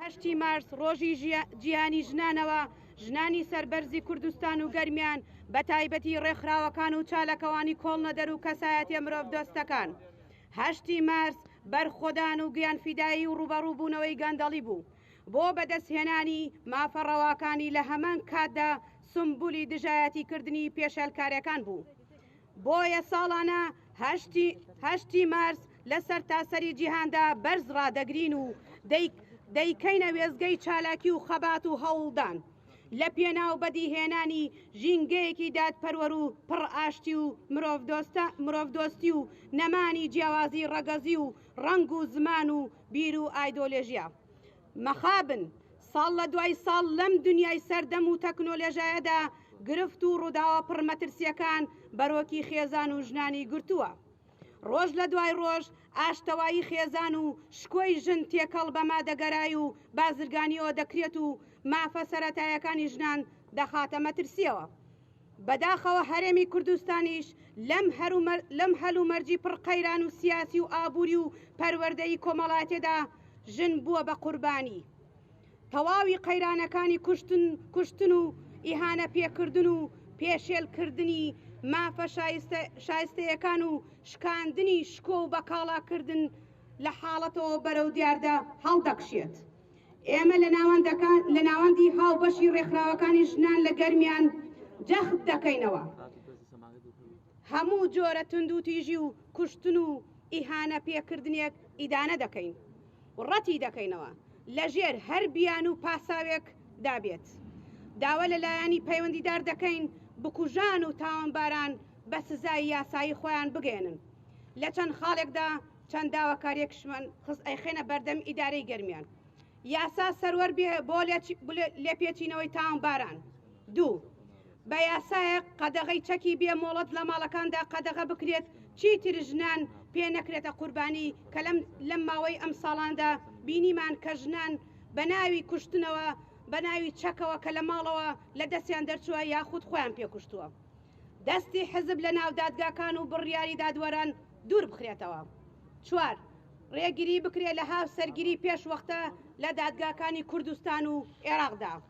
هەشتی مارس ڕۆژی جیهانی ژنانەوە، ژنانی سەربەرزی کوردستان و گەرمیان بە تایبەتی ڕێکخراوەکان و چاالکوانی کۆڵنەدەر و کەسایەتیە مرۆڤدۆستەکان. هەشتی مارس بەرخۆدان و گیانفیدایی و ڕووبەڕووبوونەوەی گەندەڵی بوو. بۆ بەدەستهێنانی مافە ڕەواکانی لە هەمان کاتدا سومبولی دژایەتی کردنی پێشێلکارێکان بوو. بۆیە ساڵانە هەشتی مارس، لە سەرتاسەری جیهاندا بەرز ڕادەگرین و دەیکەینە وێزگەی چالاکی و خەبات و هەوڵدان لە پێناو بەدیهێنانی ژینگەیەکی دادپەروەر و پڕ ئاشتی و مرۆڤدۆستی و نەمانی جیاوازی ڕەگەزی و ڕەنگ و زمان و بیر و ئایدۆلێژیا مەخابن ساڵ لە دوای ساڵ لەم دنیای سەردەم و تەکنۆلێژایەدا گرفت و ڕووداوە پڕ مەترسیەکان بەرۆکی خێزان و ژنانی گرتووە ڕۆژ لە دوای ڕۆژ ئاشتەوایی خێزان و شکۆی ژن تێکەڵ بە مادەگەرای و بازرگانیەوە دەکرێت و مافە سەرەتایەکانی ژنان دەخاتە مەترسیەوە. بەداخەوە هەرێمی کوردستانیش لەم لەم هەلومەرجی پڕ قەیران و سیاسی و ئابوری و پەروەردەیی کۆمەڵاتێدا ژن بووە بە قوربانی. تەواوی قەیرانەکانی کوشتن کوشتن و ئیهانە پێکردن و پێشێل کردنی مافە شایستەیەکان و شکاندنی شکۆ و بەکاڵا کردن لە حاڵەتەوە بەرەو دیاردە هەڵدەکشێت. ئێمە لە ناوەندەکان لە ناوەندی هاوبەشی ڕێکخراوەکانی ژنان لە گەرمیان جەخت دەکەینەوە هەموو جۆرە توندوتیژی و کوشتن و ئیهانە پێکردنێک ئیدانە دەکەین. و ڕەتی دەکەینەوە لەژێر هەر بیانو و پاساوێک دا بێت داوا لە لایەنی پەیوەندیدار دەکەین بکوژان و تاوانباران بە سزای یاسایی خۆیان بگەیەنن لە چەند خاڵێک دا چەند داواکاریەکشمان خست ئەیخەینە بەردەم ئیدارەی گەرمیان یاسا سەروەر بێ بۆ لێپێچینەوەی تاوانباران. دوو، بە یاسایەک قەدەغەی چەکی بێ مۆڵەت لە ماڵەکاندا قەدەغە بکرێت، چیتر ژنان پێ نەکرێتە قوربانی، کە لەم ماوەی ئەم ساڵاندا بینیمان کە ژنان بە ناوی کوشتنەوە، بە ناوی چەکەوە کە لە ماڵەوە لە دەستیان دەرچووە یاخود خۆیان پێ کوشتووە. دەستی حزب لە ناو دادگاکان و بڕیاری دادوەران دوور بخرێتەوە. چوار، رێگری بکرێت لە هاوسەرگیری پێش وەختە لە دادگاکانی کوردستان و ئێراقدا.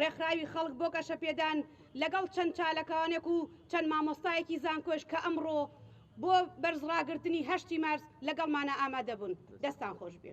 ڕێکخراوی خەڵک بۆ گەشەپێدان لەگەڵ چەند چالکاوانێک و چەند مامۆستایەکی زانکۆش کە ئەمڕۆ بۆ بەرز ڕاگرتنی هەشتی مارس لەگەڵمانە ئامادە بوون دەستان خۆش بێ.